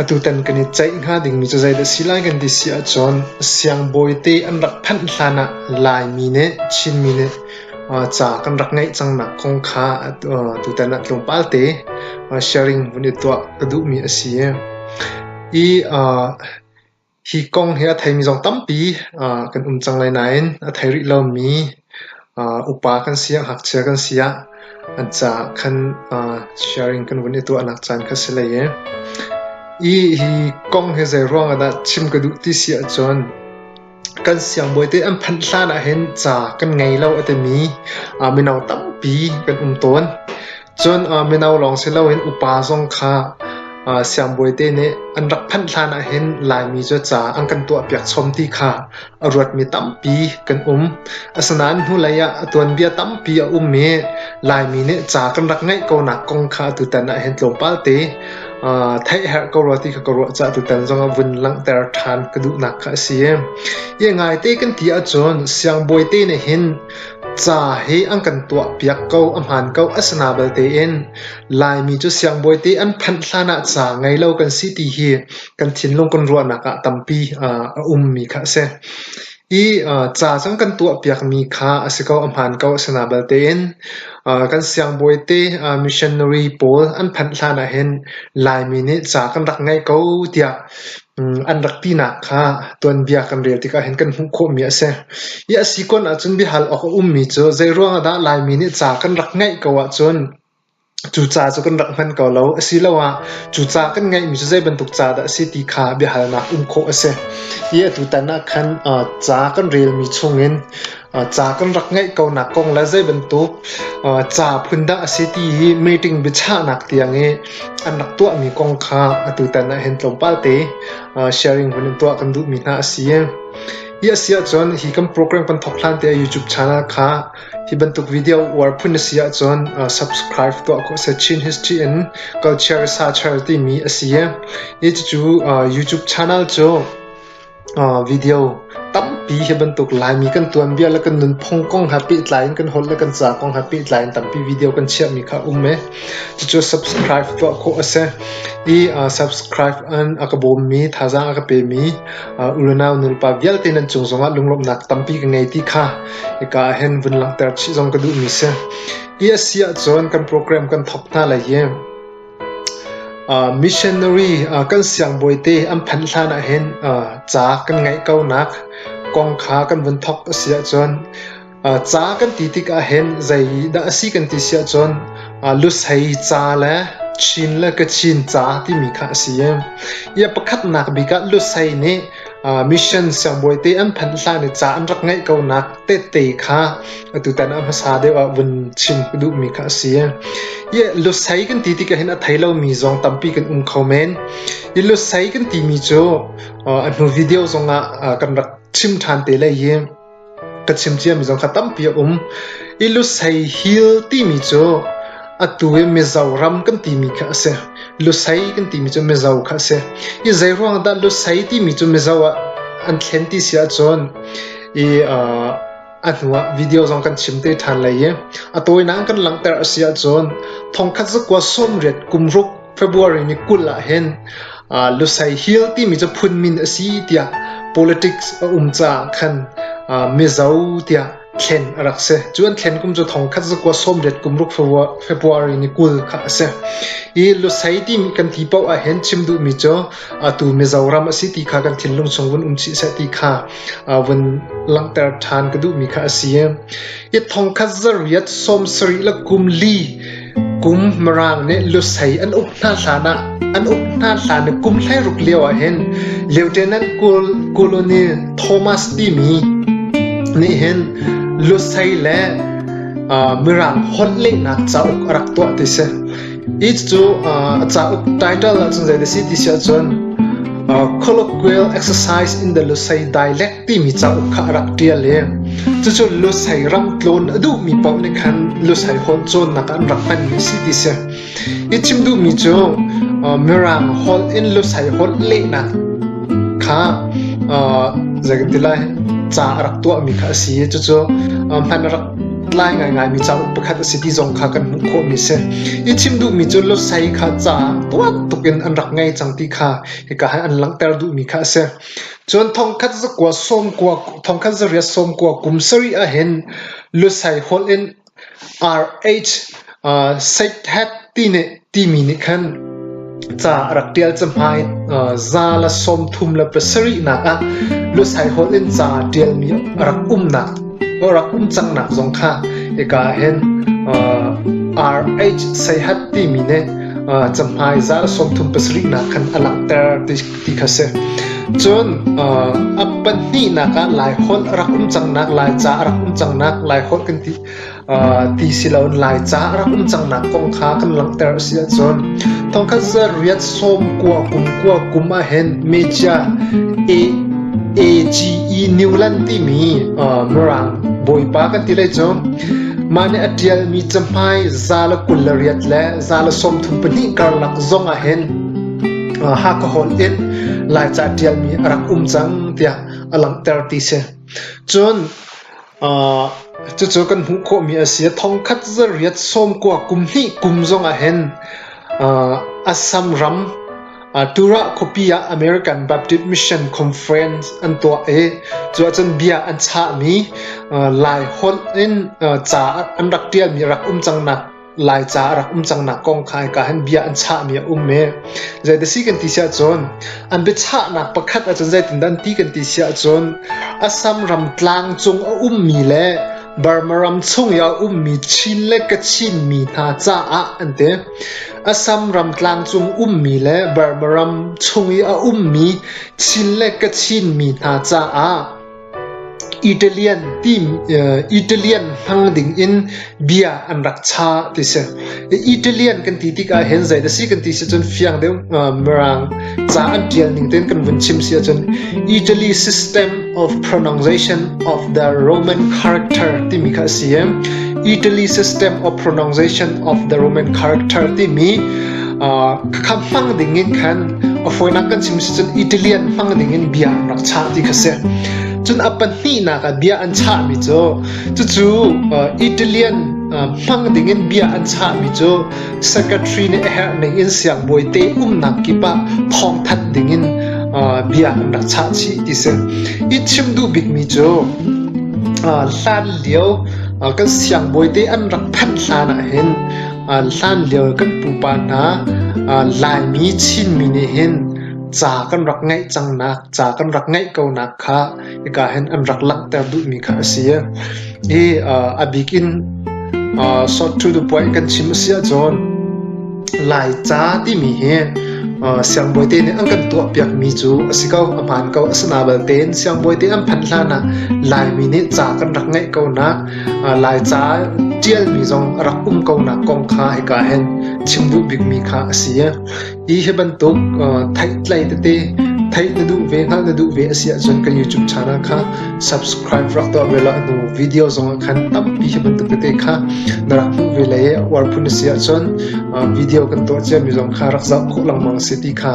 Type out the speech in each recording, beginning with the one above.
Atutan kan i ceih hnga dingmi cu zeidah si lai kan ti si ahcun siangbawi te an rak phanh hlan ah Laimi nih Chinmi nih ca kan rak ngeih cang nak kong kha tutan ah tlawmpal te sharing vun i tuah ka duhmi a si i Hi kong hi a theimi zong tampi kan um cang lai nain a thei rih lomi upa kan si ah ngakchia kan si ah an caah khan sharing kan vun i tuahnak caan kha si hlei ee. Hi hi kong hi zeiruang ah dah chim ka duh ti si ahcun kan siangbawi te an phanh hlan ahhin ca kan ngei lo a timi mino tampi kan um tawn. Cun mino lawng si loin upa zong kha siangbawi te nih an rak phanh hlan ahhin Laimi cu ca an kan tuahpiak chawm ti kha a ruatmi tampi kan um. Asinain hnulei ah a tuanbia tampi a um i Laimi nih ca kan rak ngeih ko nak kong kha atutan ahhin tlawmpal te theih herh ko rua ti kha ka ruah caah tutan zong ah vun langhter ṭhan ka duhnak kha a si. Ia ngaite kan ti ahcun siangbawi te nih hin Ca hi an kan tuahpiak ko a hmaan ko a si na bal tein Laimi cu siangbawi te an phanh hlan ah ca ngei lo kan si ti hi kan thinlung kan ruahnak ah tampi a ummi kha a si. I ca cang kan tuahpiakmi kha a si ko a hmaan ko a si na bal tein kan siangbawi te missionary pawl an phanh hlan ah hin Laimi nih ca kan rak ngei ko tiah An rak tinak kha tuanbia kan rel tikah hin kan hmuh khawhmi a si. I a si kun ahcun biahal awk a ummi cu zeiruang ahdah Laimi nih ca kan rak ngeih ko ahcun cu ca cu kan rak hman ko lo asiloah cu ca kan ngeihmi cu zei bantuk ca dah a si ti kha biahalnak um khawh a si. I atu tan ah khan ca kan relmi chungin Ca kan rak ngeih ko nak kong le zeibantuk ca phun dah a si ti hi meeting biachahnak tiang i an rak tuahmi kong kha atutan ah hin tlawmpal te sharing hun in tuah kan duhmi hna a si. Hi a si ahcun hi kan program kan thawk hlan te YouTube channel kha hi bantuk video uar phun a si ahcun subscribe tuah ko seh Chin History in Culture Researcher timi a si. Hi cucu YouTube channel cu Video tampi hi bantuk Laimi kan tuanbia le kan nunphung kong he pehtlai in kan holh le kan ca kong he pehtlai in tampi video kan chiahmi kha a um i cucu subscribe tuah khawh a si. I subscribe in a ka bawmmi thazaang a ka pemi unau nulepa vialte nan cung zongah lunglawmhnak tampi ka ngei ti kha hika ahhin vun langhter chih zong ka duhmi si. Hi a si ahcun kan program kan thawk hna lai i Missionary kan siangbawite an phanh hlan ahhin ca kan ngeih ko nak kong kha kan vun thawk a si ahcun ca kan ti tik ahhin zeidah a si kan ti si ahcun lusei ca le chin le kachin ca timi kha a si i pakhatnak bik ah lusei nih Mission siangbawi te an phanh hlan i ca an rak ngaih ko nak tehte kha atutan ah hmasa deuh ah vun chim ka duhmi kha asi. Hi lusei kan ti tikah hin a thei lomi zong tampi kan um kho men. Hi lusei kan timi cu a hnu video zongah kan rak chim ṭhan te lai hi. Ka chim ciami zong kha tampi a um. I Lusei Hill timi cu atu i Mizo ram kan timi kha a si. Lusei kan timi cu Mizo kha a si. I zeiruang dah Lusei timi cu Mizo ah an thlen ti si ahcun i uh, a hnuah video zong kan chim te ṭhan lai i a tawinak kan langhter a si ahcun thongkhat zakua sawmriat kum ruk February ni kul ahhin Lusei Hill timi cu phun min a si tiah politics a um caah khan Mizo tiah thlen a rak si. Cu an thlen kum cu thongkhat zakua sawmriat kum ruk February ni kul kha a si. Hi Lusei timi kan ti paoh ahhin chim duhmi cu atu Mizoram a si ti kha kan thinlung chung vun um chih seh ti kha vun langhter ṭhan ka duhmi kha a si. Hi thongkhat zarriat sawmsarih le kum li Kum Mirang nih lusei an uk hna hlan ah an uk hna hlan i kum hleiruk lio ah hin Lieutenant Colonel Thomas timi nih hin lusei le Mirang honlehnak cauk a rak tuah ti si. Hi cu a cauk title ahcun zei a si ti si ahcun Colloquial Exercise in the Lusei Dialect timi cauk kha a rak ṭial i cucu Lusei ram tlawn a duhmi paoh nih khan Lusei holh cawnnak an rak hmanmi a si ti si. I chim duhmi cu Mirang holh in Lusei holh lehnak kha zeitin lai ca a rak tuahmi kha a si i cucu hman a rak tlai ngaingaimi cauk pakhat a si ti zong kha kan hmuh khawhmi si. I chim duhmi cu Lusei kha ca tuak tuk in an rak ngei cang ti kha hika an langhter duhmi kha a si. Cun thongkhat zariat sawmkua kum sarih ahhin lusei holh in RH Seihthat timi nih khan ca a rak ṭial cahmai. Za le sawmthum le pasarihnak ah lusei holh in ca ṭialmi a rak um cangnak zong kha hika ahhin RH Seihat timi nih cahmai za le sawmthum pasarihnak khan a langhter ti ti kha si. Cun a pahnihnak ah Laiholh rak um cangnak, Laica a rak um cangnak, Laiholh kan ti ti si loin Laica a rak um cangnak kong kha kan langhter a si ahcun thongkhat za riat som kua kum kua kum ah hin media AGE Newland timi Mirang bawipa kan ti lai cu mah nih a ṭialmi cahmai zala kul le riat le zala sawmthum pahnih karlak zong ah hin Hakha hawn in Laica ṭialmi a rak um cang tiah a langhter ti si. Cun cucu kan hmuh khawhmi a si. Thongkhat zarriat sawmkua kum hnih kum zong ah hin Assam ram Tura khuapi ah American Baptist Mission Conference an tuah i cu ahcun bia an chahmi Lai holh in ca an rak ṭialmi a rak um cang nak Laica a rak um cangnak kong kha hika hin bia an chahmi a um i zeidah si kan ti si ahcun an biachahnak pakhat ahcun zeitindah an ti kan ti si ahcun Assam ram tlang cung a ummi le Burma ram chung i a ummi Chin le Kachin mi hna caah an ti. Assam ram tlang cung ummi le Burma ram chung i a ummi Chin le Kachin mi hna caah Italian hmang dingin bia an rak chah ti si. Italian kan ti tik ahhin zei dah si kan ti si cun fiang deuh mirang ca an ṭial ning tein kan vun chim si ahcun Italy system of pronunciation of the Roman character timi kha a si i Italy system of pronunciation of the Roman character timi khamh hmang ding in khan a fawinak kan chim si cun Italian hmang ding in bia an rak chah ti kha si cun a pahnihnak ah bia an chahmi cu cucu Italian hmang ding in bia an chahmi cu secretary nih a herhning in siangbawi te umnak kip ah thawngthanh ding in bia an rak chah chih ti si i chim duh bikmi cu hlan lio kan siangbawi te an rak phanh hlan ah hin An hlanlio kan pupa hna an Laimi Chinmi nih hin ca kan rak ngeih cangnak, ca kan rak ngeih konak kha hika hin an rak langhter duhmi kha a si. Hi a bik in sawt thu tu puai kan chim a si ahcun Laica timi hi siangbawi te nih an kan tuahpiakmi cu a si ko, a hmaan ko. Asinain belte in siangbawi te an phanh hlanah Laimi nih ca kan rak ngeih konak, Laica ṭialmi zong a rak um konak kong kha hika hin chim duh bikmi kha a si. Hi hi bantuk theihtlei tete theih na duh ve, hngalh na duh ve a si ahcun kan YouTube channel kha subscribe rak tuah ve law hnu video zong ah khan tampi hi bantuk tete kha na rak hmuh ve le uar phun a si ahcun video kan tuah ciami zong kha rak zoh khawh lengmang si ti kha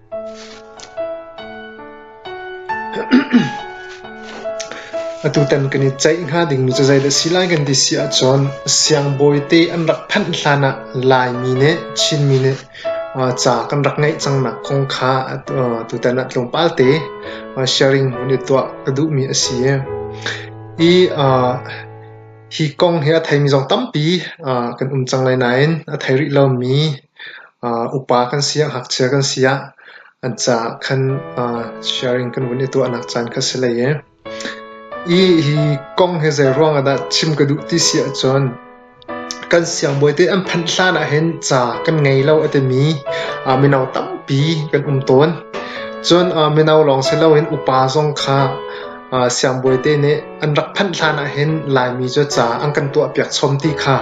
Atutan kan i ceih hnga dingmi cu zeidah a si lai kan ti si ahcun siangbawite an rak phanh hlan ah Laimi nih Chinmi nih ca kan rak ngeih cangnak kong kha tutan ah tlawmpal te sharing an i tuah ka duhmi a si. Hi hi kong hi a theimi zong tampi kan um cang lai nain a thei rih lomi Upa kan si ah ngakchia kan si ah an caah khan sharing kan vun i tuahnak caan kha si hlei ee. Hi hi kong hi zeiruang ah dah chim ka duh ti si ahcun kan siangbawi te an phanh hlan ahhin ca kan ngei lo a timi mino tampi kan um tawn. Cun mino lawng si loin upa zong kha Siangbawi te nih an rak phanh hlan ahhin Laimi cu ca an kan tuahpiak chawm ti kha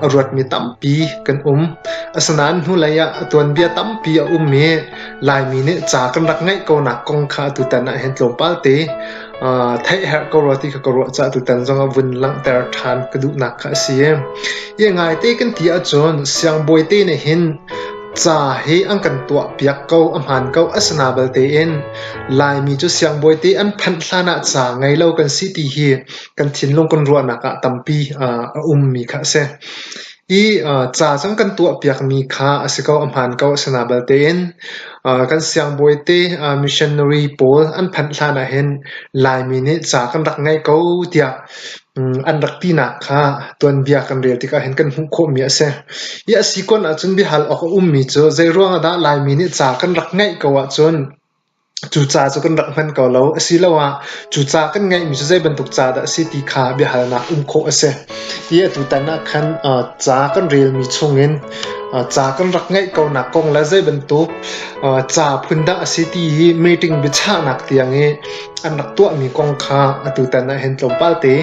a ruatmi tampi kan um. Asinain hnulei ah a tuanbia tampi a um i Laimi nih ca kan rak ngeih konak kong kha atutan ahhin tlawmpal te theih herh ko rua ti kha ka ruah caah atutan zong ah vun langhter ṭhan ka duhnak kha a si. Hi ngai te kan ti ahcun siangbawi te nih hin Ca hi an kan tuahpiak ko a hmaan ko a si na balte in Laimi cu siangbawi te an phanh hlan ah ca ngei lo kan si ti hi kan thinlung kan ruahnak ah tampi a ummi kha a si. I ca cang kan tuahpiakmi kha a si ko a hmaan ko a si na balte in kan siangbawi te missionary pawl an phanh hlan ah hin Laimi nih ca kan rak ngei ko tiah An rak tinak kha tuanbia kan rel tikah hin kan hmuh khawhmi a si. Hi a si kun ahcun biahal awk a ummi cu zeiruang ahdah Laimi nih ca kan rak ngaih ko ahcun cu ca cu kan rak hman ko lo asiloah cu ca kan ngaihmi cu zei bantuk ca dah a si ti kha biahalnak um khawh a si. Hi atutan ah khan ca kan relmi chungin ca kan rak ngaih konak kong le zei bantuk ca phun dah a si ti hi meeting biachahnak tiang i an rak tuahmi kong kha atutan ah hin tlawmpal te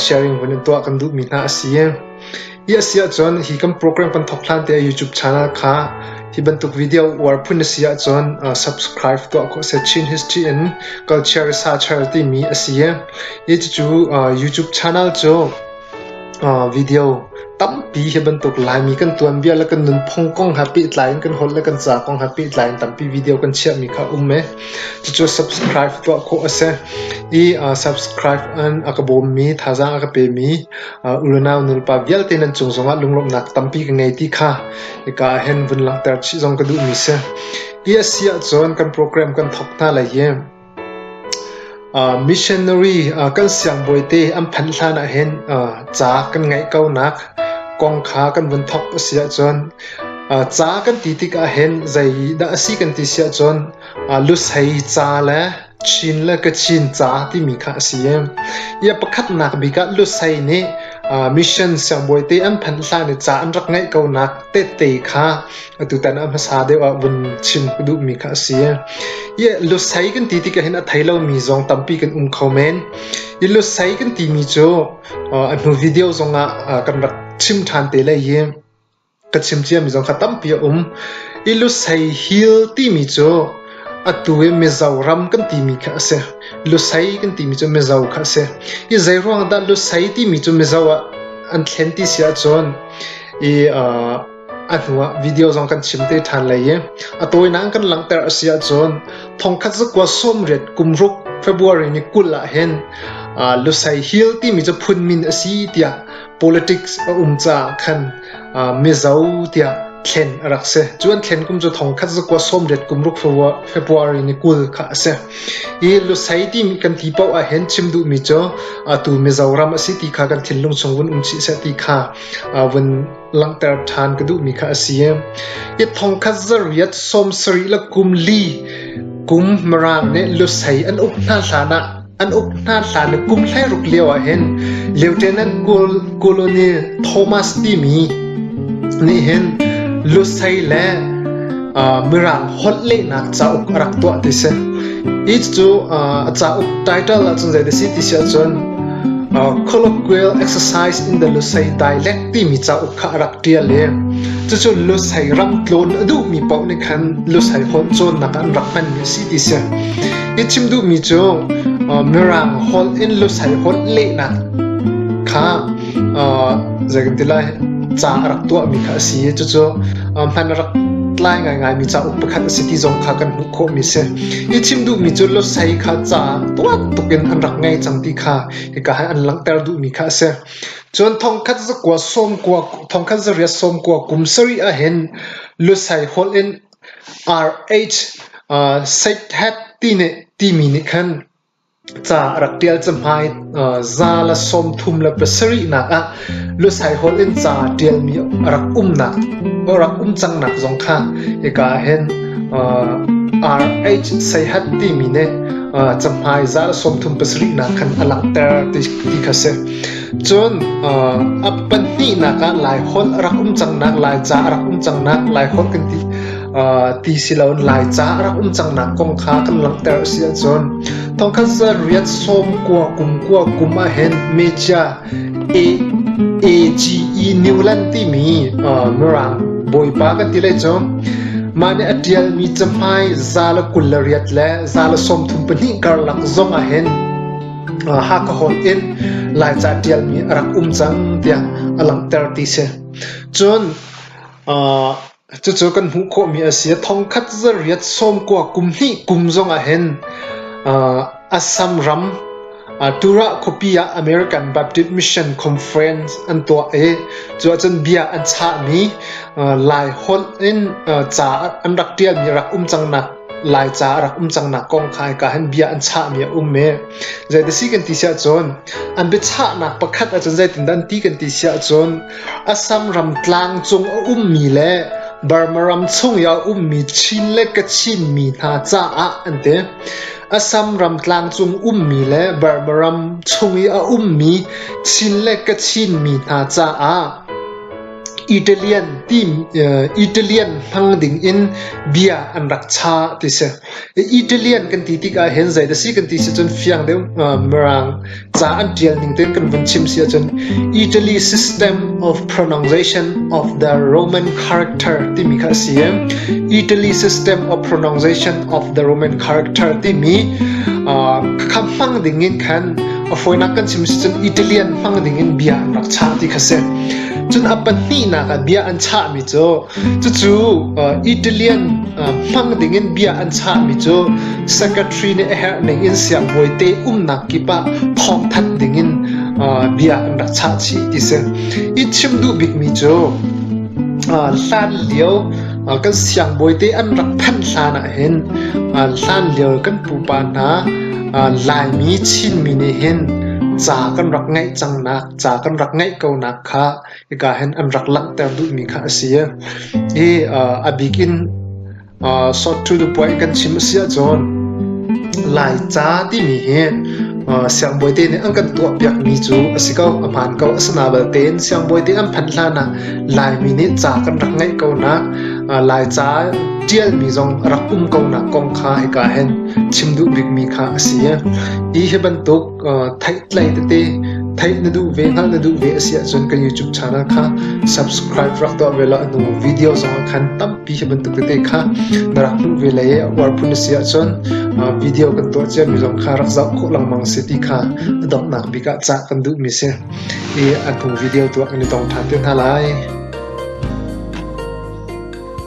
sharing vun in tuah kan duhmi hna a si. Hi a si ahcun hi kan program kan thok hlan te YouTube channel kha hi bantuk video uar phun na si ahcun subscribe tuah ko se Chin History and Culture Researcher timi a si. Hi cu YouTube channel cu Video tampi hi bantuk Laimi kan tuanbia le kan nunphung kong he pehtlai in kan holh le kan ca kong he pehtlai in tampi video kan chiahmi kha a um i cucu subscribe tuah khawh a si. I subscribe in a ka bawmmi, thazaang a ka pemi unau nulepa vialte nan cung zongah lunglawmhnak tampi ka ngei ti kha hika ah hin vun langhter chih zong ka duhmi si. Hi a si ahcun kan program kan thawk hna lai i Missionary kan siangbawite an phanh hlan ahhin ca kan ngeih ko nak kong kha kan vun thawk a si ahcun ca kan ti tik ahhin zeidah a si kan ti si ahcun lusei ca le Chin le Kachin ca timi kha a si. Hi a pakhatnak bik ah lusei nih mission siangbawite an phanh hlan i ca an rak ngeih ko nak tehte kha Atutan ah hmasa deuh ah vun chim ka duhmi kha a si. Ie lusei kan ti tikah hin a thei lomi zong tampi kan um kho men. I lusei kan timi cu uh, hnu video zong ah uh, kan rak chim ṭhan te lai hi ka chim ciami zong kha tampi a um. I lusei hil timi cu atu i mizo ram kan timi kha a si. Lusei kan timi cu mizo kha a si. I zei ruang dah lusei timi cu mizo ah an thlen ti si ahcun i uh, A hnuah video zong kan chim te ṭhan lai i a tawinak in kan langhter a si ahcun thongkhat zakua sawmriat kumruk February ni kul ahhin uh, Lusei Hill timi cu phun min a si tiah politics a um caah khan uh, Mizo tiah thlen a rak si. Cu an thlen kum cu thongkhat zakua sawmriat kumruk February ni kul kha a si. I Lusei timi kan ti paoh ahhin chim duhmi cu uh, tu Mizoram a si ti kha kan thinlung chung vun um chih seh ti kha uh, vun Langhter ṭhan ka duhmi kha a si. Yat thong khat zariyat sawm sarih le kum li kum maraang ne lusei an uk hna hlan ah an uk hna hlan le kum hlei ruk lio ah hin Lieutenant Colonel Thomas timi nih hin lusei le mirang holh lehnak cauk a rak tuah ti si. Hi cu a cauk title ahcun zei ti si ti si ahcun colloquial exercise in the Lusei dialect timi cauk kha a rak ṭial i cucu Lusei ram tlawn a duhmi paoh nih khan Lusei holh cawnnak ah an rak hmanmi a si ti si. Hi chim duhmi cu Mirang holh in Lusei holh lehnak kha zeikantilai ca a rak tuahmi kha a si i cucu hman a rak tlai ngaingaimi cauk pakhat a si ti zong kha kan hmuh khawhmi si. Hi chim duhmi cu Lusei kha ca tuak tukin an rak ngei cang ti kha hika an langhter duhmi kha a si. Cun thongkhat zakua sawmkua, thongkhat zariat sawmkua kum sarih ahhin lusei holh in RH uh, Seithet ti, nih, timi nih khan ca a rak ṭial cahmai. Uh, za le sawmthum le pasarihnak ah lusei holh in ca ṭialmi a rak umnak a rak um cangnak zong kha hika hin uh, RH Seithet timi nih uh, cahmai za le sawmthum pasarihnak khan a langhter ti, ti kha si. Cun a pahnihnak ah Laiholh a rak um cangnak, Laica a rak um cangnak, Laiholh kan ti ti si loin Laica a rak um cangnak kong kha kan langhter a si ahcun thongkhat zarriat sawm kua kum kua kum ahhin mecia AGE Newland timi Mirang bawipa kan ti lei cu mah nih a ṭialmi cahmai za le kul le riat le za le sawmthum pahnih karlak zong ahhin Hakha hawn in Laica ṭialmi a rak um cang tiah a langhter ti si. Cun cucu kan hmuh khawhmi a si. Thongkhat zarriat sawmkua kum hnih kum zong ahhin Assam ram Tura khuapi ah American Baptist Mission Conference an tuah i cu ahcun bia an chahmi Lai holh in ca an rak ṭialmi rak um cang nak Laica a rak um cangnak kong kha hika hin bia an chahmi a um i zei ti si kan ti si ahcun an biachahnak pakhat ahcun zeitindah an ti kan ti si ahcun Assam ram tlang cung a ummi le Burma ram chung i a ummi Chin le Kachinmi hna caah an ti. Assam ram tlang cung ummi le Burma ram chung i a ummi Chin le Kachinmi hna caah Italian hmang dingin bia an rak chah ti si. Italian kan ti tik ahhin zeidah a si kan ti si cun fiang deuh mirang ca an ṭial ning tein kan vun chim si ahcun Italy system of pronunciation of the Roman character timi kha a si i Italy system of pronunciation of the Roman character timi kha hmang dingin khan a fawinak kan chim si cun Italian hmang dingin bia an rak chah ti kha si. Cun a pahnihnak ah bia an chahmi cu cucu Italian hmang dingin bia an chahmi cu secretary nih a herhning in siangbawi te umnak kip ah thawngthanh dingin bia an rak chah chih ti si. I chim duh bikmi cu hlan lio kan siangbawi te an rak phanh hlan ah hin hlan lio kan pupa hna Laimi Chinmi nih hin ca kan rak ngaih cang nak ca kan rak ngeih ko nak kha hika hin an rak langhter duhmi kha a si i a bik in sawt thu tu puai kan chim a si ahcun laica timi hi siangbawi te nih an kan tuah piakmi cu a si ko a hmaan ko asana balte in siangbawi te an phanh hlan ah laimi nih ca kan rak ngeih ko nak laica tialmi zong rak um ko nak kong kha hika hin chim duh bikmi kha a si hi bantuk Theih tete theih na duh ve hngalh na duh ve a si ahcun kan YouTube channel kha subscribe rak tuah ve law a hnu video zong ah khan tampi hi bantuk tete kha na rak hmuh ve le uar phun a si ahcun video kan tuah ciami zong kha rak zoh khawh lengmang a si ti kha a donghnak bik ah cah kan duhmi a si i a hnu video tuah kan i tong ṭhan te hna lai.